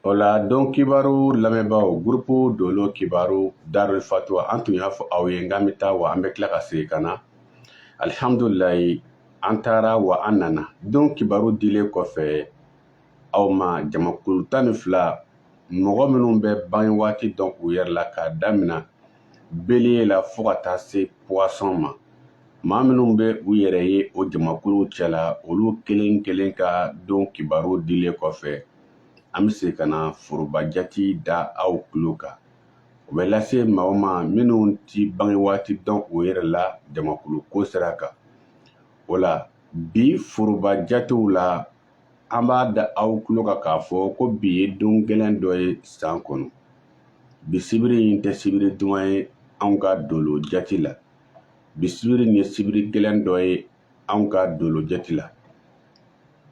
O la don kibaru lamɛnbaaw gurupu dolo kibaru darul fatwa an tun y'a fɔ aw ye n k'an bɛ taa wa an bɛ tila ka segin ka na alihamdulilayi an taara wa an nana don kibaru dilen kɔfɛ aw ma jamakulu tan ni fila mɔgɔ minnu bɛ bange waati dɔn u yɛrɛ la k'a damina beliye la fo ka taa se puwasɔn ma maa minnu bɛ u yɛrɛ ye o jamakuluw cɛla olu kelen kelen ka don kibaru dilen kɔfɛ an bɛ se ka na foroba jati da aw tulo kan o bɛ lase maa o maa minnu ti bange waati dɔn u yɛrɛ la jamakulu ko sira kan o la bi foroba jatew la an b'a da aw tulo kan k'a fɔ ko bi ye don gɛlɛn dɔ ye san kɔnɔ bi sibiri in tɛ sibiri duman ye anw ka dolo jati la bi sibiri nin ye sibiri gɛlɛn dɔ ye anw ka dolo jate la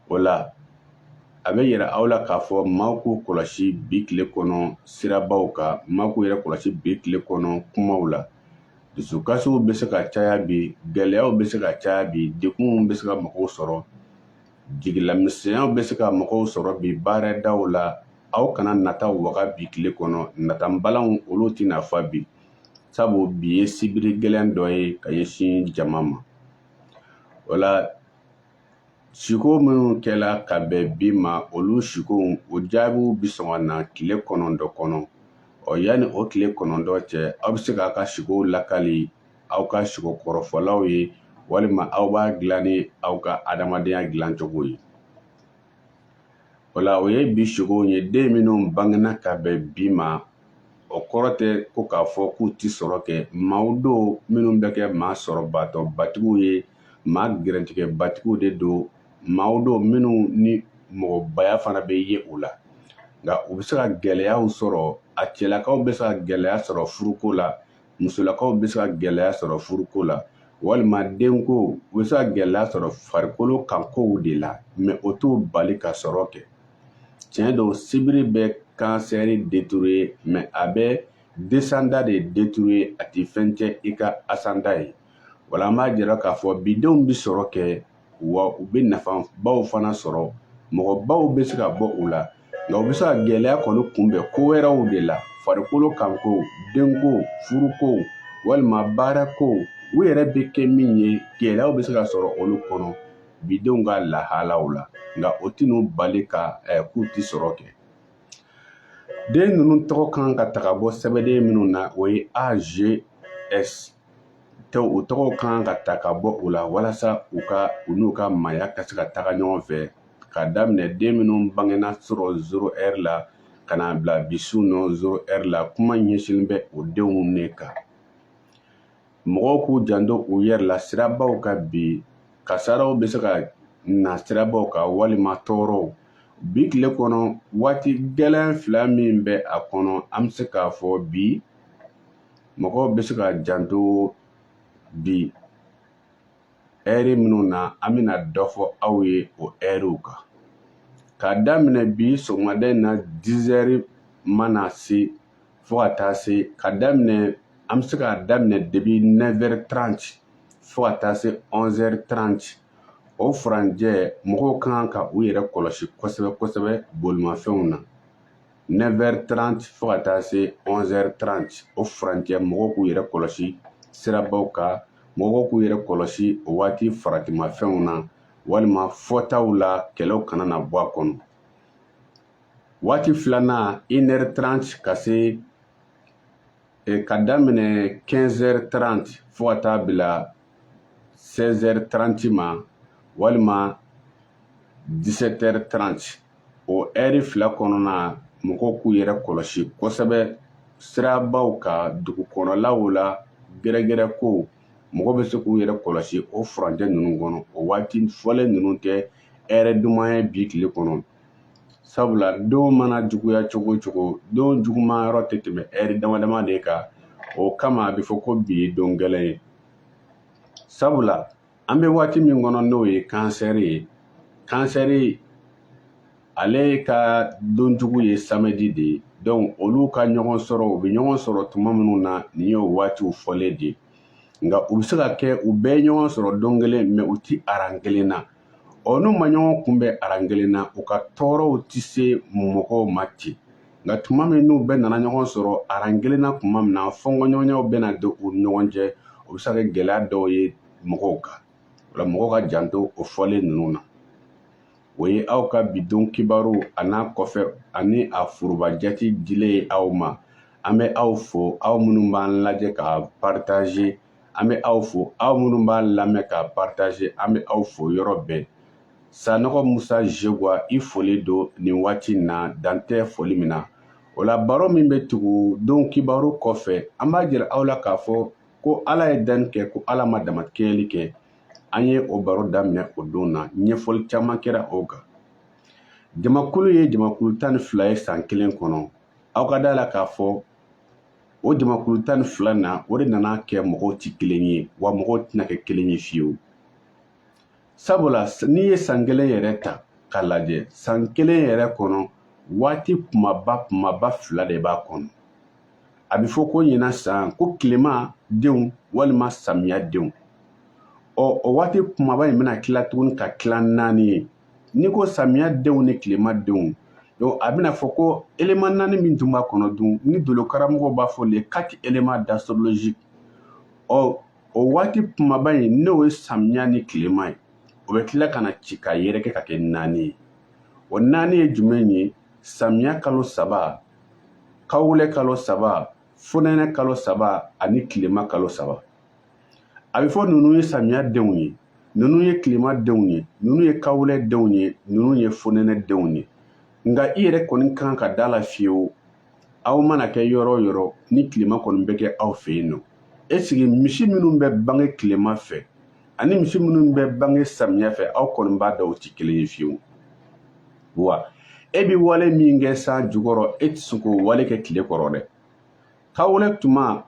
o la a bɛ yira aw la k'a fɔ maaw k'u kɔlɔsi bi tile kɔnɔ sirabaw kan maaw k'u yɛrɛ kɔlɔsi bi tile kɔnɔ kumaw la dusukasiw bɛ se ka caya bi gɛlɛyaw bɛ se ka caya bi degunw bɛ se ka mɔgɔw sɔrɔ jigilamisɛnyaw bɛ se ka mɔgɔw sɔrɔ bi baaradaw la aw kana nata waga bi tile kɔnɔ natabalaw olu tɛna fa bi sabu bi ye sibiri gɛlɛn dɔ ye ka ɲɛsin jama ma o la siko minnu kɛla ka bɛn bi ma olu sikow o jaabiw bi sɔn ka na tile kɔnɔntɔn kɔnɔ ɔ yanni o tile kɔnɔntɔn cɛ aw bɛ se k'a ka sikow lakali aw ka siko kɔrɔfɔlaw ye walima aw b'a dilan ni aw ka adamadenya dilancogo ye o la o ye bi sikow ye den minnu bangena ka bɛn bi ma o kɔrɔ tɛ ko k'a fɔ k'u ti sɔrɔ kɛ maaw don minnu bɛ kɛ maa sɔrɔbatɔ batigiw ye maa garijigɛ batigiw de don maaw don minnu ni mɔgɔbaya fana bɛ ye u la nka u bɛ se ka gɛlɛyaw sɔrɔ a cɛlakaw bɛ se ka gɛlɛya sɔrɔ furuko la musolakaw bɛ se ka gɛlɛya sɔrɔ furuko la walima denko u bɛ se ka gɛlɛya sɔrɔ farikolo kan kow de la mɛ o t'u bali ka sɔrɔ kɛ tiɲɛ don sibiri bɛ kansɛri détruire mɛ a bɛ desanda de détruire a tɛ fɛn cɛn i ka asanda ye o la an b'a jira k'a fɔ bidenw bɛ sɔrɔ kɛ wa u bɛ nafabaw fana sɔrɔ mɔgɔbaw bɛ se ka bɔ u la nka u bɛ se ka gɛlɛya kɔni kunbɛn ko wɛrɛw de la farikolo kanko denko furuko walima baarako u yɛrɛ bɛ kɛ min ye gɛlɛyaw bɛ se ka sɔrɔ olu kɔnɔ bidenw ka lahalaw la nka o tɛn'u bali ka eh, k'u tɛ sɔrɔ kɛ den ninnu tɔgɔ kan ka ta ka bɔ sɛbɛnden minnu na o ye ags tɛ u tɔgɔw ka kan ka ta ka bɔ u la walasa u ka u n'u ka maaya ka se ka taga ɲɔgɔn fɛ ka daminɛ den minnu bangena surɔ zero ɛri la ka na bila bi su nɔ zero ɛri la kuma ɲɛsinnen bɛ o denw ne kan mɔgɔw k'u janto u yɛrɛ la sirabaw kan bi kasaraw bɛ se ka na sirabaw kan walima tɔɔrɔw bi tile kɔnɔ waati gɛlɛn fila min bɛ a kɔnɔ an bɛ se k'a fɔ bi mɔgɔw bɛ se ka janto bi ɛri minnu na an bɛna dɔ fɔ aw ye o ɛriw kan k'a daminɛ bi sɔgɔmada in na dizɛri mana se fo ka taa se ka daminɛ an bɛ se k'a daminɛ depuis nɛvɛri taranti fo ka taa se ɔnzɛri taranti o furancɛ mɔgɔw ka kan ka u yɛrɛ kɔlɔsi kosɛbɛ kosɛbɛ bolimafɛnw na 9h30 fo ka taa se 11h30 o furancɛ mɔgɔw k'u yɛrɛ kɔlɔsi sirabaw kan mɔgɔw k'u yɛrɛ kɔlɔsi o waati faratima fɛnw na walima fɔtaw la kɛlɛw kana na bɔ a kɔnɔ waati filanan 1h30 ka se eh, ka daminɛ 15h30 fo ka taa bila 16h30 ma walima 17h30 o ɛri fila kɔnɔna mɔgɔw k'u yɛrɛ kɔlɔsi kosɛbɛ sirabaw kan dugukɔnɔlaw la gɛrɛgɛrɛko mɔgɔ bɛ se k'u yɛrɛ kɔlɔsi o furancɛ ninnu kɔnɔ o waati fɔlen ninnu tɛ ɛri duman ye bi tile kɔnɔ sabula don mana juguya cogo cogo don juguman yɔrɔ tɛ tɛmɛ ɛri dama dama de kan o kama a bɛ fɔ ko bi ye don gɛlɛn ye sabula an bɛ waati min kɔnɔ n'o ye kansɛri ye kansɛri ale ka don jugu ye samɛdi de ye dɔnku olu ka ɲɔgɔn sɔrɔ u bɛ ɲɔgɔn sɔrɔ tuma minnu na nin y'o waatiw fɔlen de ye nka u bɛ se ka kɛ u bɛɛ ɲɔgɔn sɔrɔ don kelen mɛ u ti aran kelen na ɔ n'u ma ɲɔgɔn kunbɛn aran kelen na u ka tɔɔrɔw tɛ se mɔgɔw ma ten nka tuma min n'u bɛɛ nana ɲɔgɔn sɔrɔ aran kelen na tuma min na fɔnkɔɲɔgɔnyaw bɛna don u ni ɲɔgɔn cɛ o bɛ se ka kɛ gɛlɛya dɔw ye mɔgɔw kan o la mɔgɔw ka janto o fɔlen ninnu na o ye aw ka bi don kibaru an'a kɔfɛ ani a foroba jati dilen ye aw ma an bɛ aw fo aw minnu b'an lajɛ k'a paritaze an bɛ aw fo aw minnu b'an lamɛn k'a paritaze an bɛ aw fo yɔrɔ bɛɛ Sanɔgɔ Musa Jegwa i foli don nin waati in na dan tɛ foli min na. O la baro min bɛ tugu don kibaru kɔfɛ an b'a jira aw la k'a fɔ ko Ala ye danni kɛ ko Ala ma damakɛɲɛli kɛ. An ye o baro daminɛ o don na ɲɛfɔli caman kɛra o kan. Jamakulu ye jamakulu tan ni fila ye san kelen kɔnɔ. Aw ka d'a la k'a fɔ o jamakulu tan ni fila na o de nana kɛ mɔgɔw tɛ kelen ye wa mɔgɔw tɛna kɛ kelen ye fiyewu. sabula n'i ye san kelen yɛrɛ ta k'a lajɛ san kelen yɛrɛ kɔnɔ waati kumaba kumaba fila de b'a kɔnɔ a bɛ fɔ ko ɲina san ko tilema denw walima samiya denw ɔ o waati kumaba in bɛna tila tuguni ka tila naani ye n'i ko samiya denw ni tilema denw donc a bɛna fɔ ko élément naani min tun b'a kɔnɔ dun ni dolo karamɔgɔw b'a fɔ les quatre éléments d'astrologie ɔ o waati kumaba in n'o ye samiya ni tilema ye o bɛ tila ka na ci ka yɛrɛkɛ ka kɛ naani ye o naani ye jumɛn ye samiya kalo saba kawulɛ kalo saba fonɛnɛ kalo saba ani tilema kalo saba a bɛ fɔ ninnu ye samiya denw ye ninnu ye tilema denw ye ninnu ye kawulɛ denw ye ninnu ye fonɛnɛ denw ye nka i yɛrɛ kɔni ka kan ka da la fiyewu aw mana kɛ yɔrɔ o yɔrɔ ni tilema kɔni bɛ kɛ aw fɛ yen non est-ce que misi minnu bɛ bange tilema fɛ ani misi minnu bɛ bange samiya fɛ aw kɔni b'a dɔn u tɛ kelen ye fiyewu wa e bɛ wale min kɛ san jukɔrɔ e tɛ se k'o wale kɛ tile kɔrɔ dɛ kawulɛ tuma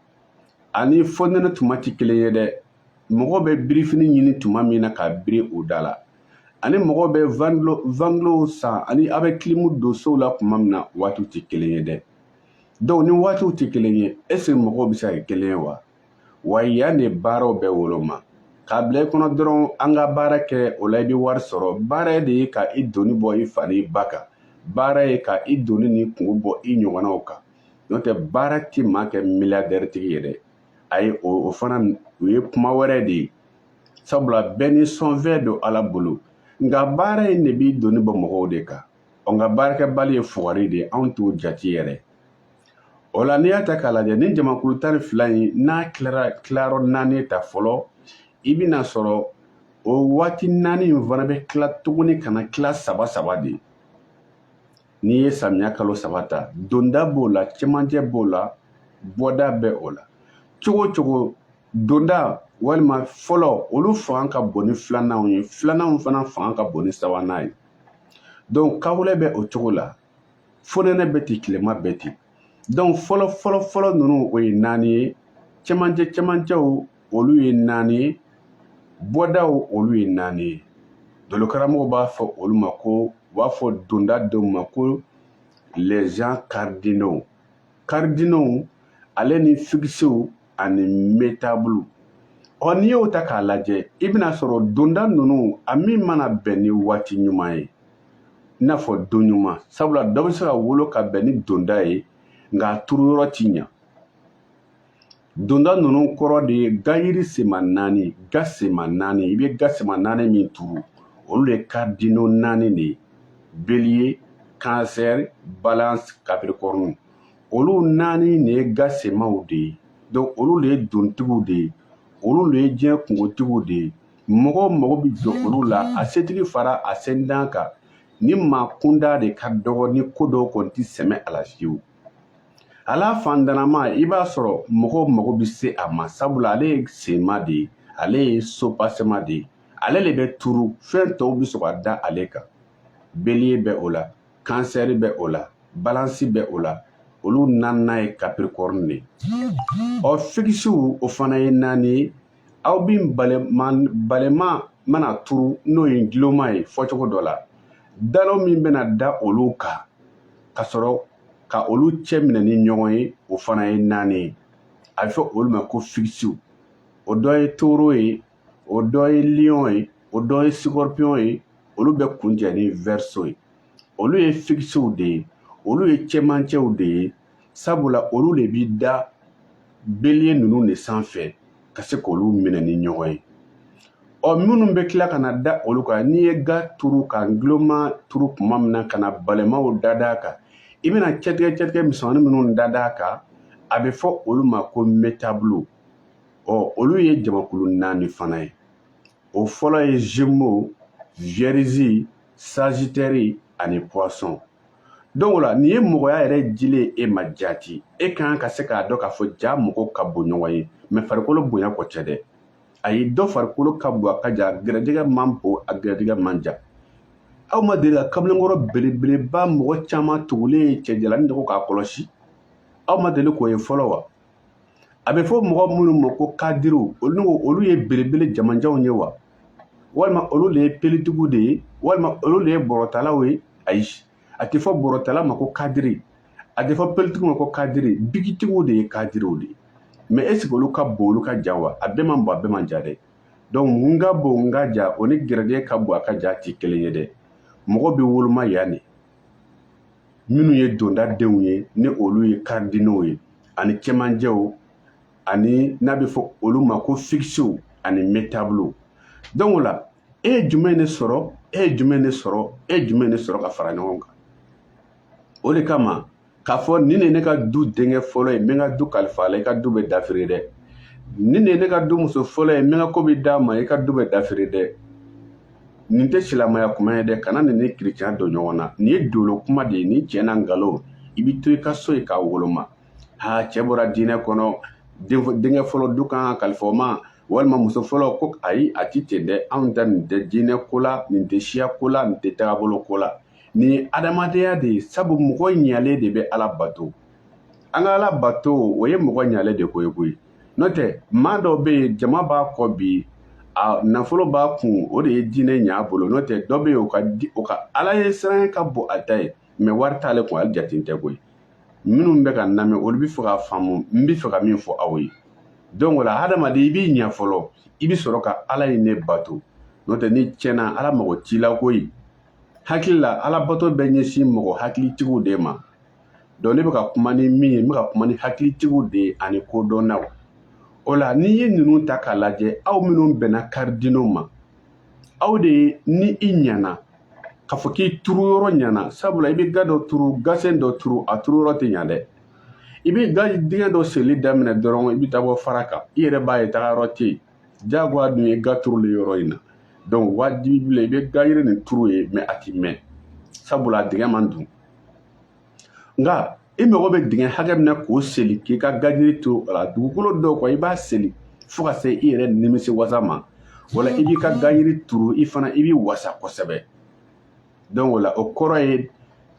ani fonɛnɛ tuma tɛ kelen ye dɛ mɔgɔw bɛ birifini ɲini tuma min na k'a biri u da la ani mɔgɔw bɛ vantilow san ani a bɛ kilimu don sow la tuma min na waatiw tɛ kelen ye dɛ donc ni waatiw tɛ kelen ye est-ce que mɔgɔw bɛ se ka kɛ kelen ye wa wa yan de baaraw bɛ woloma k'a bila i kɔnɔ dɔrɔn an ka baara kɛ o la i bɛ wari sɔrɔ baara de ye ka i doni bɔ i fa n'i ba kan baara ye ka i doni ni kunko bɔ i ɲɔgɔnnaw kan n'o tɛ baara tɛ maa kɛ milliardaire tigi ye dɛ ayi o fana o ye kuma wɛrɛ de ye sabula bɛɛ ni sɔnfɛn don Ala bolo nka baara in de b'i doni bɔ mɔgɔw de kan ɔ nka baarakɛbali ye fugari de ye anw t'o jate yɛrɛ o la n'i y'a ta k'a lajɛ ni jamakulu tan ni fila in n'a tilara tilayɔrɔ naani ta fɔlɔ i bɛn'a sɔrɔ o waati naani in fana bɛ tila tuguni ka na tila saba saba de n'i ye samiya kalo saba ta donda b'o la cɛmancɛ b'o la bɔda bɛ o la cogo cogo donda walima fɔlɔ olu fanga ka bon ni filananw ye filananw fana fanga ka bon ni sabanan ye donc kawulɛ bɛ o cogo la fonɛnɛ bɛ ten tilema bɛ ten donc fɔlɔ fɔlɔ fɔlɔ ninnu o ye naani ye cɛmancɛ cɛmancɛw olu ye naani ye bɔdaw olu ye naani ye dolokaramɔgɔw b'a fɔ olu ma ko u b'a fɔ donda dɔw ma ko les gens cardinaux cardinaux ale ni fikisiw ani metabulu ɔ n'i y'o ta k'a lajɛ i bɛna sɔrɔ donda ninnu a min mana bɛn ni waati ɲuman ye i n'a fɔ don ɲuman sabula dɔ bɛ se ka wolo ka bɛn ni donda ye nka a turu yɔrɔ ti ɲa donda ninnu kɔrɔ de ye gayiri sema naani ga sema naani i bɛ ga sema naani min turu olu de ye cardinaux naani de ye bélier cancer balance capricorne olu naani de ye ga semaw de ye donc olu de ye dontigiw de ye olu de ye diɲɛ kungotigiw de ye mɔgɔ mago bɛ jɔ olu la a setigi fara a sentan kan ni maa kunda de ka dɔgɔ ni ko dɔw kɔni tɛ sɛmɛ a la fiyewu hali a faantannama i b'a sɔrɔ mɔgɔw mago bɛ se a ma sabula ale ye senma de ye ale ye sopasema de ye ale de bɛ turu fɛn tɔw bɛ sɔrɔ ka da ale kan bélier bɛ o la cancer bɛ o la balance bɛ o la olu naaninan ye capricorne de ye ɔ fikisiw o fana ye naani ye aw bi balema mana turu n'o ye guloma ye fɔcogo dɔ la dalo min bɛna da olu kan ka sɔrɔ ka olu cɛ minɛ ni ɲɔgɔn ye o fana ye naani ye a bɛ fɔ olu ma ko fikisiw o dɔ ye taureau ye o dɔ ye lion ye o dɔ ye scorpion ye olu bɛ kuncɛ ni verseau ye olu ye fikisiw de ye olu ye cɛmancɛw de ye sabula olu de bi da bélier ninnu de sanfɛ ka se k'olu minɛ ni ɲɔgɔn ye ɔ minnu bɛ tila ka na da olu kan n'i ye ga turu ka guloma turu kuma min na ka na balemaw dada a kan i bɛna cɛtigɛ cɛtigɛ misɛnmanin minnu dada a kan a bɛ fɔ olu ma ko metabulu ɔ olu ye jamakulu naani fana ye o fɔlɔ ye gémeaux vierge sagittaire ani poisson donc o la nin ye mɔgɔya yɛrɛ dilen e ma jaati e ka kan ka se k'a dɔn k'a fɔ jaa mɔgɔw ka bon ɲɔgɔn ye mais farikolo bonya ko tɛ dɛ ayi dɔ farikolo ka bon a ka jan gɛrɛjɛgɛ man bon a gɛrɛjɛgɛ man jan aw ma deli ka kamalenkɔrɔ belebeleba mɔgɔ caman tugulen ye cɛjalanin dɔ kɔ k'a kɔlɔsi aw ma deli k'o ye fɔlɔ wa a bɛ fɔ mɔgɔ minnu ma ko kadiriw olu olu ye belebele jamanjanw ye wa walima olu de ye pelitigiw de ye walima olu de ye bɔrɔtalaw ye ayi a tɛ fɔ bɔrɔtala ma ko kadiri a tɛ fɔ pelitigiw ma ko kadiri bikitigiw de ye kadiriw de ye mais est-ce que olu ka bon olu ka jan wa a bɛɛ man bon a bɛɛ man jan dɛ donc n ka bon n ka jan o ni gɛrɛjɛgɛ ka bon a ka jan tɛ kelen ye dɛ mɔgɔ bɛ woloma yan de minnu ye donda denw ye ni olu ye cardinaux ye ani cɛmancɛw ani n'a bɛ fɔ olu ma ko fikisew ani mutable donc o la e ye jumɛn de sɔrɔ e ye jumɛn de sɔrɔ e ye jumɛn de sɔrɔ ka fara ɲɔgɔn kan o de kama k'a fɔ nin de ne ka du denkɛ fɔlɔ ye n bɛ n ka du kalifa a la i ka du bɛ dafiri dɛ nin de ye ne ka du muso fɔlɔ ye n bɛ n ka ko bɛɛ d'a ma i ka du bɛ dafiri dɛ nin tɛ silamɛya kuma ye dɛ kana nin ni kiricɛn don ɲɔgɔn na nin ye dolo kuma de ye nin cɛ n'a nkalon i bɛ to i ka so yen k'a woloma ha cɛ bɔra diinɛ kɔnɔ denkɛ fɔlɔ du kan ka kalifa o ma walima muso fɔlɔ ko ayi a ti ten dɛ anw ta nin tɛ diinɛ ko la nin tɛ siya ko la nin tɛ tagabolo ko la nin ye adamadenya de ye sabu mɔgɔ ɲalen de bɛ ala bato an ka ala bato o ye mɔgɔ ɲalen de ko ye koyi n'o tɛ maa dɔ bɛ yen jama b'a kɔ bi a nafolo b'a kun o de ye diinɛ ɲɛ a bolo n'o tɛ dɔ bɛ yen o ka ala ɲɛsiran ka bon a ta ye mais wari t'ale kun ale jate tɛ koyi minnu bɛ ka lamɛn olu bɛ fɛ ka faamu n bɛ fɛ ka min fɔ aw ye donc o la hadamaden i b'i ɲɛ fɔlɔ i bɛ sɔrɔ ka ala yɛrɛ bato n'o tɛ n'i tiɲɛna ala mago t'i la koyi hakili la alabato bɛ ɲɛsin mɔgɔ hakilitigiw de ma donc ne bɛ ka kuma ni min ye n bɛ ka kuma ni hakilitigiw de ye ani kodɔnnaw o la n'i ye ninnu ta k'a lajɛ aw minnu bɛnna cardinaux ma aw de ye ni i ɲɛna k'a fɔ k'i turu yɔrɔ ɲɛna sabula i bɛ ga dɔ turu gasen dɔ turu a turu yɔrɔ tɛ ɲa dɛ i bɛ ga dingɛ dɔ seli daminɛ dɔrɔn i bɛ taa bɔ fara kan i yɛrɛ b'a ye tagayɔrɔ tɛ yen jagoya dun ye ga turuli yɔrɔ in na donc wajibi b'i la i bɛ gayiri nin turu yen mais a ti mɛn sabula a dingɛ man dun nka i mago bɛ dingɛ hakɛ min na k'o seli k'i ka gajiri turu a la dugukolo dɔw kɔ i b'a seli fo ka se i yɛrɛ nimisi wasa ma wala i b'i ka gajiri turu i fana i b'i wasa kosɛbɛ donc o la o kɔrɔ ye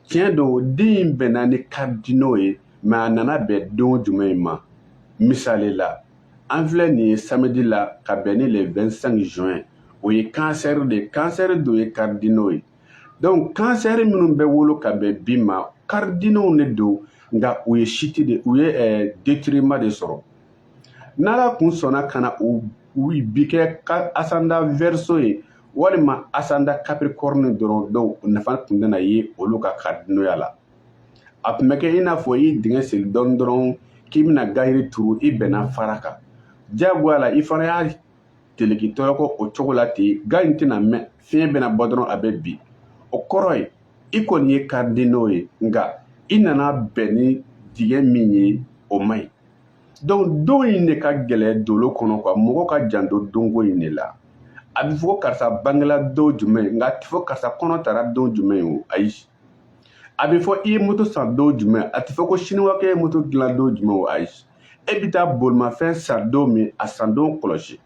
tiɲɛ don den in bɛnna ni cardinaux ye mais a nana bɛn don jumɛn in ma misali la an filɛ nin ye samedi la ka bɛn ni le 25 juin o ye cancer de ye cancer dun ye cardinaux ye donc cancer minnu bɛ wolo ka bɛn bi ma cardinaux de don nka u ye chute de u ye eh, détriment de sɔrɔ n'ala kun sɔnna ka na u bi kɛ ascendant verseau ye walima ascendant capricorne dɔrɔn donc nafa tun tɛna ye olu ka karidinoya la a tun bɛ kɛ i n'a fɔ i dingɛ seli dɔɔni dɔrɔn k'i bɛna gayiri turu i bɛnna fara kan diyagoya la i fana y'a teleki tɔɔrɔkɔ o cogo la ten ga in tɛna mɛn fiɲɛ bɛna bɔ dɔrɔn a bɛ bin o kɔrɔ ye i kɔni ye cardinaux ye nka i nana bɛn ni dingɛ min ye o man ɲi donc don in de ka gɛlɛn dolo kɔnɔ quoi mɔgɔ ka janto donko in de la a bɛ fɔ ko karisa bangela don jumɛn nka a tɛ fɔ karisa kɔnɔ tara don jumɛn o ayi a bɛ fɔ i ye moto san don jumɛn a tɛ fɔ ko siniwakɛ ye moto dilan don jumɛn o ayi e bɛ taa bolimafɛn san don min a san don kɔlɔsi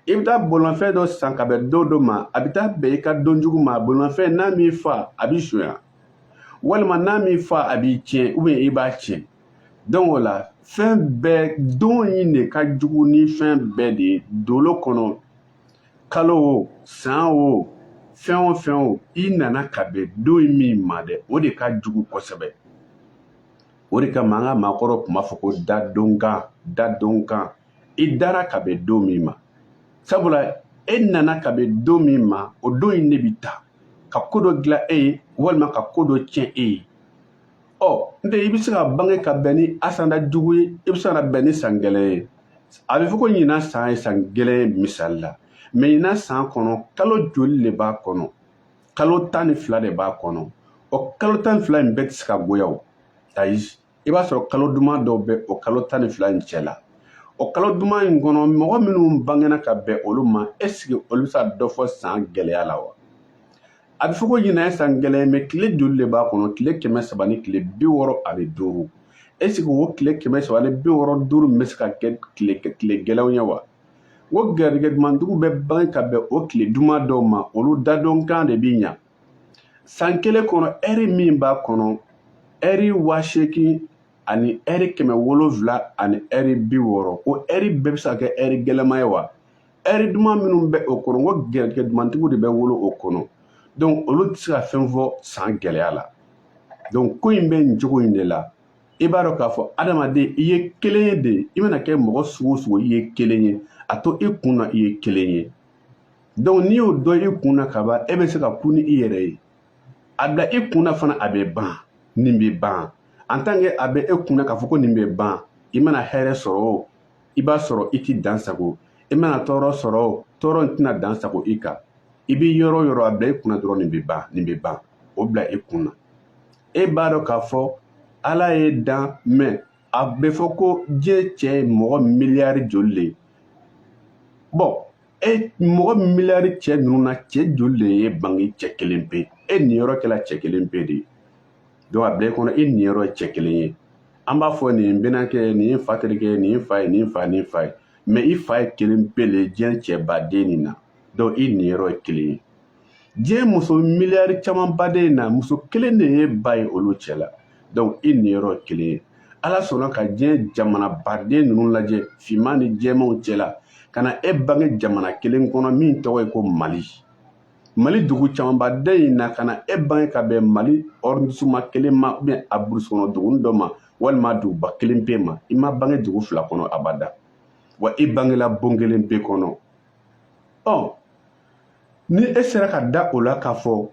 i bɛ taa bolimafɛn dɔ san ka bɛn don dɔ ma a bɛ taa bɛn i ka don jugu ma bolimafɛn n'a m'i fa a b'i sonya walima n'a m'i fa a b'i tiɲɛ ou bien i b'a tiɲɛ donc o la fɛn bɛɛ don in de ka jugu ni fɛn bɛɛ de ye dolo kɔnɔ kalo o san o fɛn o fɛn o i nana ka bɛn don in min ma dɛ o de ka jugu kosɛbɛ o de kama an ka maakɔrɔ tun b'a fɔ ko dadonkan dadonkan i dara ka bɛn don min ma sabula e nana ka bɛn don min ma o don in de bi ta ka ko dɔ dilan e ye walima ka ko dɔ tiɲɛ e ye ɔ n tɛ i bɛ se ka bange ka bɛn ni ascendant jugu ye i bɛ se ka bɛn ni san gɛlɛn ye a bɛ fɔ ko ɲinan san ye san gɛlɛn ye misali la mais ɲinan san kɔnɔ kalo joli de b'a kɔnɔ kalo tan ni fila de b'a kɔnɔ o kalo tan ni fila in bɛɛ tɛ se ka goya o ayi i b'a sɔrɔ kalo duman dɔw bɛ o kalo tan ni fila in cɛ la o kalo duman in kɔnɔ mɔgɔ minnu bangena ka bɛn olu ma est-ce que olu bɛ se ka dɔ fɔ san gɛlɛya la wa a bɛ fɔ ko ɲinan ye san gɛlɛn ye mais tile joli de b'a kɔnɔ tile kɛmɛ saba ni tile bi wɔɔrɔ ani duuru est-ce que o tile kɛmɛ saba ni bi wɔɔrɔ duuru min bɛ se ka kɛ tile gɛlɛnw ye wa o garijɛgɛ dumantigiw bɛ bange ka bɛn o tile duman dɔw ma olu dadonkan de bi ɲa san kelen kɔnɔ ɛri min b'a kɔnɔ ɛri waa seegin ani ɛri kɛmɛ wolonfila ani ɛri bi wɔɔrɔ o ɛri bɛɛ bɛ se ka kɛ ɛri gɛlɛma ye wa ɛri duman minnu bɛ o kɔnɔ n ko garijɛgɛ dumantigiw de bɛ wolo o kɔnɔ donc olu tɛ se ka fɛn fɔ san gɛlɛya la donc ko in bɛ nin cogo in de la i b'a dɔn k'a fɔ adamaden i ye kelen ye dɛ i mana kɛ mɔgɔ sugu o sugu i ye kelen ye a to i kun na i ye kelen ye donc n'i y'o don i kun na ka ban e bɛ se ka kun ni i yɛrɛ ye a bila i kun na fana a bɛ ban nin bɛ ban en tant que a bɛ e kun na k'a fɔ ko nin bɛ ban i mana hɛrɛ sɔrɔ o i b'a sɔrɔ i tɛ dan sagon i mana tɔɔrɔ sɔrɔ o tɔɔrɔ in tɛna dan sagon i kan i bɛ yɔrɔ o yɔrɔ a bila i kun na dɔrɔn nin bɛ ban nin bɛ ban o bila i kun na e b'a dɔn k'a fɔ ala y'e dan mais a bɛ fɔ ko diɲɛ cɛ ye mɔgɔ miliyari joli de ye bon e mɔgɔ miliyari cɛ ninnu na cɛ joli de y'e bange cɛ kelen pe e niyɔrɔ kɛla cɛ kelen pe de ye donc a bila i kɔnɔ i niyɔrɔ ye cɛ kelen ye an b'a fɔ nin bɛnakɛ nin ye fa terikɛ nin ye fa ye nin fa ni fa ye mɛ i fa ye kelen pe le diɲɛ cɛbaden nin na donc i niyɔrɔ ye kelen ye diɲɛ muso miliyari caman baden in na muso kelen de ye ba ye olu cɛ la donc i niyɔrɔ ye kelen ye ala sɔnna ka diɲɛ jamana baden ninnu lajɛ finman ni jɛmanw cɛ la ka na e bange jamana kelen kɔnɔ min tɔgɔ ye ko mali mali dugu camanbaden in na ka na e bange ka bɛn mali arrondissement kelen ma ubiyɛn a burusi kɔnɔ duguni dɔ ma walima duguba kelen pe ma i ma bange dugu fila kɔnɔ abada wa i bangela bon kelen pe kɔnɔ ɔ ni e sera ka da o la k'a fɔ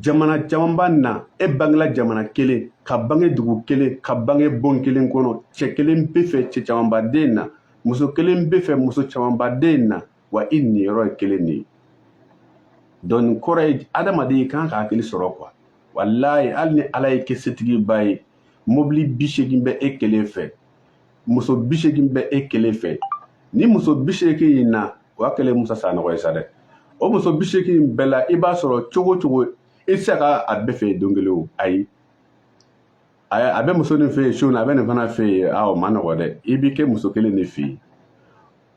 jamana camanba na e bangela jamana kelen ka bange dugu kelen ka bange bon kelen kɔnɔ cɛ kelen pe fɛ cɛ camanbaden na muso kelen pe fɛ muso camanbaden na wa i niyɔrɔ ye kelen de ye donc nin kɔrɔ ye adamaden i kan ka hakili sɔrɔ kuwa walayi hali ni ala y'i kɛ setigiba ye mobili bi seegin bɛ e kelen fɛ muso bi seegin bɛ e kelen fɛ ni muso bi seegin in na o y'a kɛlen musa sanɔgɔ ye sa dɛ o muso bi seegin in bɛɛ la i b'a sɔrɔ cogo cogo i tɛ se ka a bɛɛ fɛ don kelen o ayi a bɛ muso nin fɛ yen su na a bɛ nin fana fɛ yen a o ma nɔgɔ dɛ i bɛ kɛ muso kelen de fɛ yen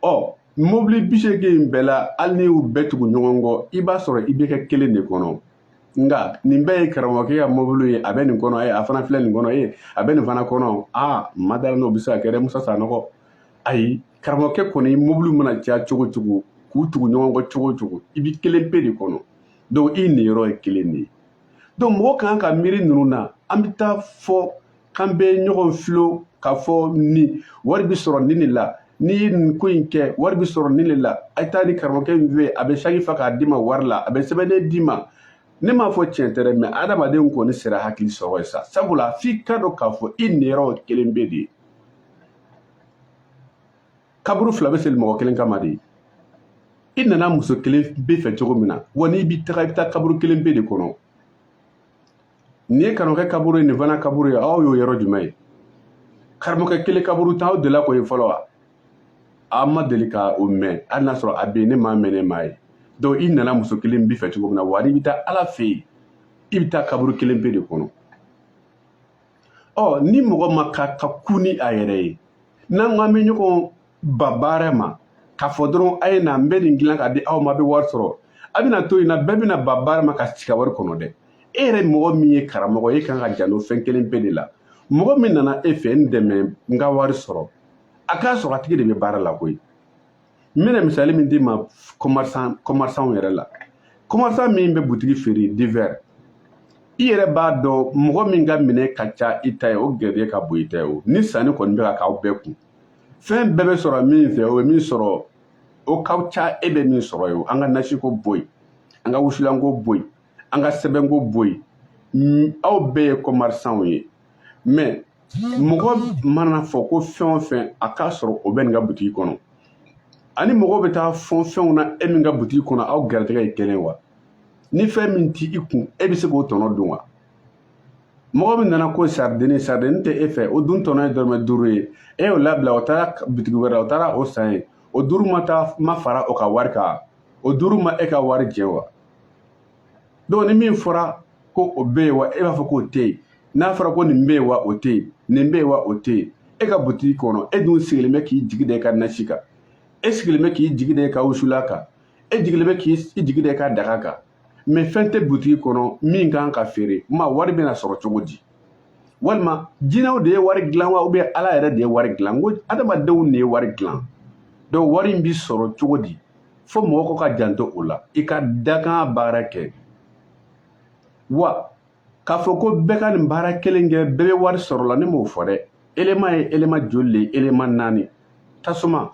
ɔ mobili bi seegin in bɛɛ la hali n'i y'u bɛɛ tugu ɲɔgɔn kɔ i b'a sɔrɔ i bɛ kɛ kelen de kɔnɔ nka nin bɛɛ ye karamɔgɔkɛ ka mobili ye a bɛ nin kɔnɔ ye a fana filɛ nin kɔnɔ ye a bɛ nin fana kɔnɔ n ma d'a la n'o bɛ se ka kɛ dɛ musa sanɔgɔ ayi karamɔgɔkɛ kɔni mobili mana caya cogo cogo k'u tugu ɲɔgɔn kɔ cogo cogo i bɛ kelen pe de kɔnɔ donc i niyɔrɔ ye kelen de ye donc mɔgɔ kan ka miiri ninnu na an bɛ taa fɔ k'an bɛ ɲɔgɔn filo k'a fɔ nin wari bɛ sɔrɔ nin de la n'i ye nin ko in kɛ wari bɛ sɔrɔ nin de la a ye taa nin karamɔgɔkɛ in fɛ yen a bɛ saki fa k'a d'i ma wari la a bɛ sɛbɛnden d'i ma ne m'a fɔ tiɲɛ tɛ dɛ mɛ adamaden kɔni sera hakili sɔrɔ ye sa sabula f'i ka dɔn k'a fɔ i niyɔrɔ kelen pe de ye kaburu fila bɛ sen mɔgɔ kelen kama de i nana muso kelen pe fɛ cogo min na wa n'i bɛ taga i bɛ taa kaburu kelen pe de kɔnɔ nin ye karamɔgɔkɛ kaburu ye nin fana kaburu ye aw y'o yɔrɔ jumɛn ye karamɔgɔkɛ kelen kaburu tan aw delila k'o ye fɔlɔ wa aw ma deli ka o mɛn hali n'a sɔrɔ a bɛ yen ne m'a mɛn ne m'a ye donc i nana muso kelen pe fɛ cogo min na wa n'i bɛ taa ala fɛ yen i bɛ taa kaburu kelen pe de kɔnɔ ɔ ni mɔgɔ man kan ka kun ni a yɛrɛ ye n'an ko an bɛ ɲɔgɔn ban baara ma k'a fɔ dɔrɔn a ye na n bɛ nin dilan k'a di aw ma a bɛ wari sɔrɔ a bɛna to nin na bɛɛ bɛna ban baara ma ka sigi ka wari kɔnɔ dɛ e yɛrɛ mɔgɔ min ye karamɔgɔ ye e kan ka janto fɛn kelen pe de la mɔgɔ min nana e fɛ n dɛmɛ n ka wari sɔrɔ a k'a sɔrɔ a tigi de bɛ baara la koyi n bɛna misali min d'i ma kɔmarisanw yɛrɛ la kɔmarisan min bɛ butigi feere divɛri i yɛrɛ b'a dɔn mɔgɔ min ka minɛ ka ca i ta ye o garijɛgɛ ka bon i ta ye o ni sanni kɔni bɛ ka k'aw bɛɛ kun fɛn bɛɛ bɛ sɔrɔ min fɛ o bɛ min sɔrɔ o ka ca e bɛ min sɔrɔ ye o an ka nasiko bɔ yen an ka wusulanko bɔ yen an ka sɛbɛnko bɔ yen aw bɛɛ ye kɔmarisanw ye mɛ mɔgɔ mana fɔ ko fɛn o fɛn a k'a sɔrɔ o bɛ nin ka butigi kɔnɔ ani mɔgɔ bɛ taa fɔn fɛnw na e min ka butigi kɔnɔ aw garijɛgɛ ye kelen wa ni fɛn min t'i kun e bɛ se k'o tɔnɔ dun wa mɔgɔ min nana ko saridini saridini tɛ e fɛ o dun tɔnɔ ye dɔrɔmɛ duuru ye e y'o labila o taara bitigi wɛrɛ la o taara o san yen o duuru ma taa ma fara o ka wari kan o duuru ma e ka wari jɛ wa donc ni min fɔra ko o bɛ yen wa e b'a fɔ k'o tɛ yen n'a fɔra ko nin bɛ yen wa o tɛ yen nin bɛ yen wa o tɛ yen e ka butigi kɔnɔ e dun sigilen bɛ k'i jigi da i ka nasi kan e sigilen bɛ k'i jigi da i ka wusulan kan e jigilen bɛ k'i jigi da i ka daga kan mɛ fɛn tɛ butigi kɔnɔ min ka kan ka feere ma wari bɛna sɔrɔ cogo di walima jinɛw de ye wari dilan wa ubiyɛn ala yɛrɛ de ye wari dilan ko adamadenw de ye wari dilan donc wari in bɛ sɔrɔ cogo di fo mɔgɔ ko ka janto o la i ka dakan baara kɛ wa k'a fɔ ko bɛɛ ka nin baara kelen kɛ bɛɛ bɛ wari sɔrɔ a la ne m'o fɔ dɛ elema ye elema joli le ye elema naani tasuma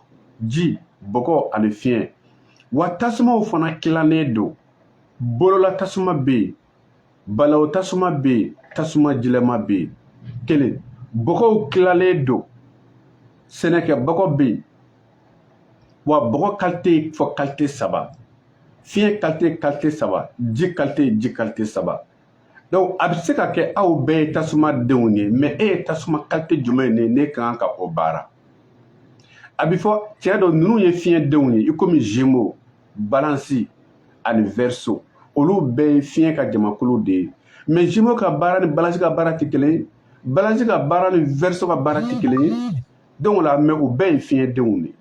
ji bɔgɔ ani fiɲɛ wa tasumaw fana tilannen don bolola tasuma bɛ yen balaw tasuma bɛ yen tasuma jilama bɛ yen kelen bɔgɔw tilalen don sɛnɛkɛ bɔgɔ bɛ yen wa bɔgɔ kalite fɔ kalite saba fiɲɛ kalite kalite saba ji kalite ji kalite saba donc a bɛ se ka kɛ aw bɛɛ ye tasuma denw ye mɛ e ye tasuma kalite jumɛn de ye ne ka kan ka o baara a bɛ fɔ cɛ dɔ ninnu ye fiɲɛ denw ye i komi gémeaux balansi ani verseau olu bɛɛ ye fiɲɛ ka jamakulu de ye mɛ gémeaux ka baara ni balansi ka baara tɛ kelen ye balansi ka baara ni verseau ka baara tɛ kelen ye donc o la mɛ u bɛɛ ye fiɲɛdenw de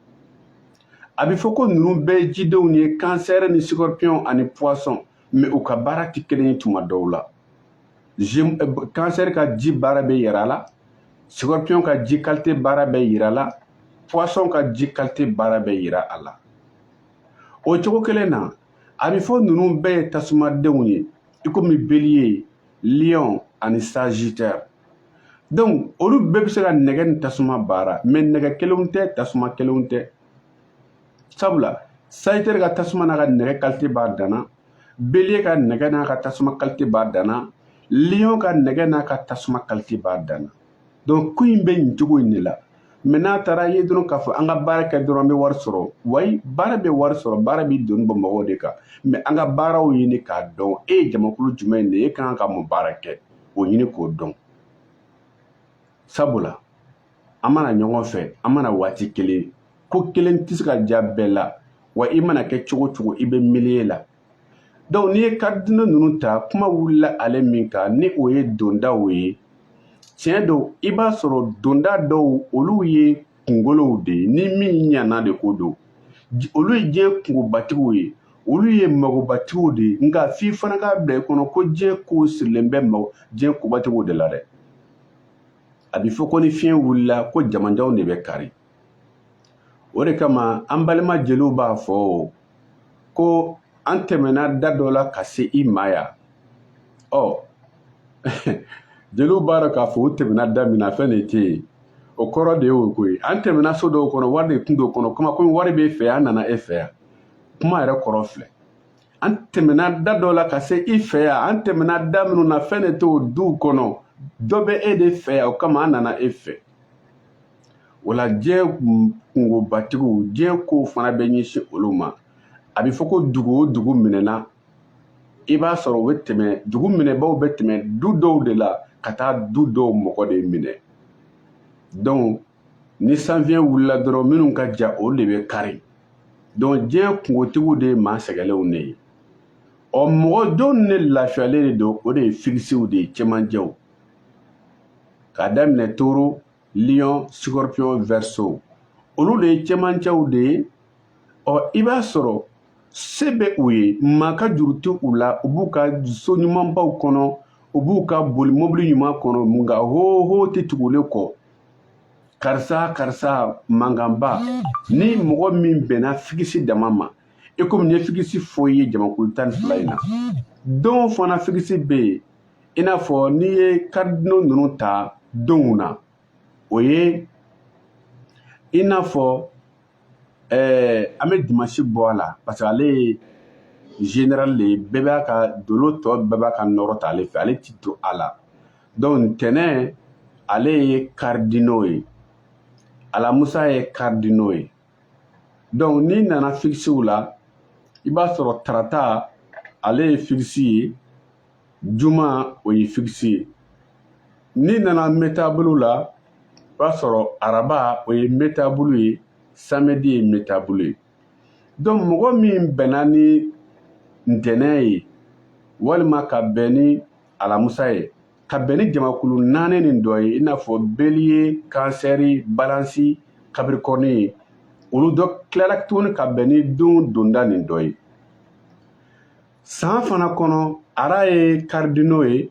a bɛ fɔ ko ninnu bɛɛ ye jidenw ye kansɛrɛ ni scorpion ani poisson mɛ u ka baara tɛ kelen ye tuma dɔw la kansɛri eh, ka ji baara bɛ yira a la scorpion ka ji kalite baara bɛ yira a la poisson ka ji kalite baara bɛ yira a la o cogo kelen na a bɛ fɔ ninnu bɛɛ ye tasumadenw ye i komi beliye lion ani sagittaire donc olu bɛɛ bɛ se ka nɛgɛ ni tasuma baara mɛ nɛgɛ kelenw tɛ tasuma kelenw tɛ sabula sagittaire ka tasuma n'a ka nɛgɛ kalite b'a danna beliye ka nɛgɛ n'a ka tasuma kalite b'a danna lion ka nɛgɛ n'a ka tasuma kalite b'a danna donc ko in bɛ nin cogo in de la mais n'a taara ye dɔrɔn k'a fɔ an ka baara kɛ dɔrɔn an bɛ wari sɔrɔ wayi baara bɛ wari sɔrɔ baara bɛ doni bɔ mɔgɔw de kan mais an ka baaraw ɲini k'a dɔn e ye jamakulu jumɛn de ye e ka kan ka mun baara kɛ o ɲini k'o dɔn sabula an ma na ɲɔgɔn fɛ an ma na waati kelen ko kelen tɛ se ka diya bɛɛ la wa i mana kɛ cogo cogo i bɛ milieu la donc n'i ye karidino ninnu ta kuma wulila ale min kan ni o ye dondaw ye tiɲɛ don i b'a sɔrɔ donda dɔw olu ye kungolow de ye ni min ɲana de ko don olu ye diɲɛ kungobatigiw ye olu ye magobatigiw de ye nka f'i fana k'a bila i kɔnɔ ko diɲɛ kow sirilen bɛ mago diɲɛ kobatigiw de la dɛ a bɛ fɔ ko ni fiɲɛ wulila ko jamanjanw de bɛ kari o de kama an balima jeliw b'a fɔ ko an tɛmɛna da dɔ la ka se i ma yan ɔ jeliw b'a dɔn k'a fɔ u tɛmɛna da min na fɛn de tɛ yen o kɔrɔ de ye o koyi an tɛmɛna so dɔw kɔnɔ wari de tun t'o kɔnɔ kuma komi wari b'e fɛ yan an nana e fɛ yan kuma yɛrɛ kɔrɔ filɛ an tɛmɛna da dɔ la ka se i fɛ yan an tɛmɛna da minnu na fɛn de t'o duw kɔnɔ dɔ bɛ e de fɛ yan o kama an nana e fɛ o la diɲɛ kungobatigiw diɲɛ kow fana bɛ ɲɛsin olu ma a bɛ fɔ ko dugu o dugu minɛna i b'a sɔrɔ u bɛ tɛmɛ dugu minɛbaaw bɛ tɛmɛ du dɔw de la ka taa du dɔw mɔgɔ de minɛ donc ni sanfiɲɛ wulila dɔrɔn minnu ka jan olu de bɛ kari donc diɲɛ kungotigiw de ye maa sɛgɛlenw de ye ɔ mɔgɔ jɔnw de lafiyalen de don o de ye figisiw de ye cɛmancɛw k'a daminɛ taureau lion scorpion verseau olu de ye cɛmancɛw de ye ɔ i b'a sɔrɔ se bɛ u ye maa ka juru tɛ u la u b'u ka so ɲumanbaw kɔnɔ u b'u ka boli mobili ɲuman kɔnɔ nka hoho tɛ tugulen kɔ karisa karisa mankanba ni mɔgɔ min bɛnna figisi dama ma e komi n ye figisi fɔ i ye jamakulu tan ni fila in na don fana figisi bɛ yen i n'a fɔ n'i ye karidino ninnu ta donw na o ye i n'a fɔ eh, an bɛ dimansi bɔ a la parce que ale ye général de ye bɛɛ b'a ka dolo tɔ bɛɛ b'a ka nɔrɔ ta ale fɛ ale ti don a la donc ntɛnɛn ale ye karidino ye alamusa ye karidino ye donc n'i nana fikisiw la i b'a sɔrɔ tarata ale ye fikisi ye juma o ye fikisi ye n'i nana mutable la i b'a sɔrɔ araba o ye mutable ye samedi ye mutable ye donc mɔgɔ min bɛnna ni ntɛnɛn ye walima ka bɛn ni alamusa ye ka bɛn ni jamakulu naani nin dɔ ye i n'a fɔ beliye kansɛri balansi kabirikɔrɔni ye olu dɔ tilala tuguni ka bɛn ni don donda nin dɔ ye san fana kɔnɔ a la ye karidino ye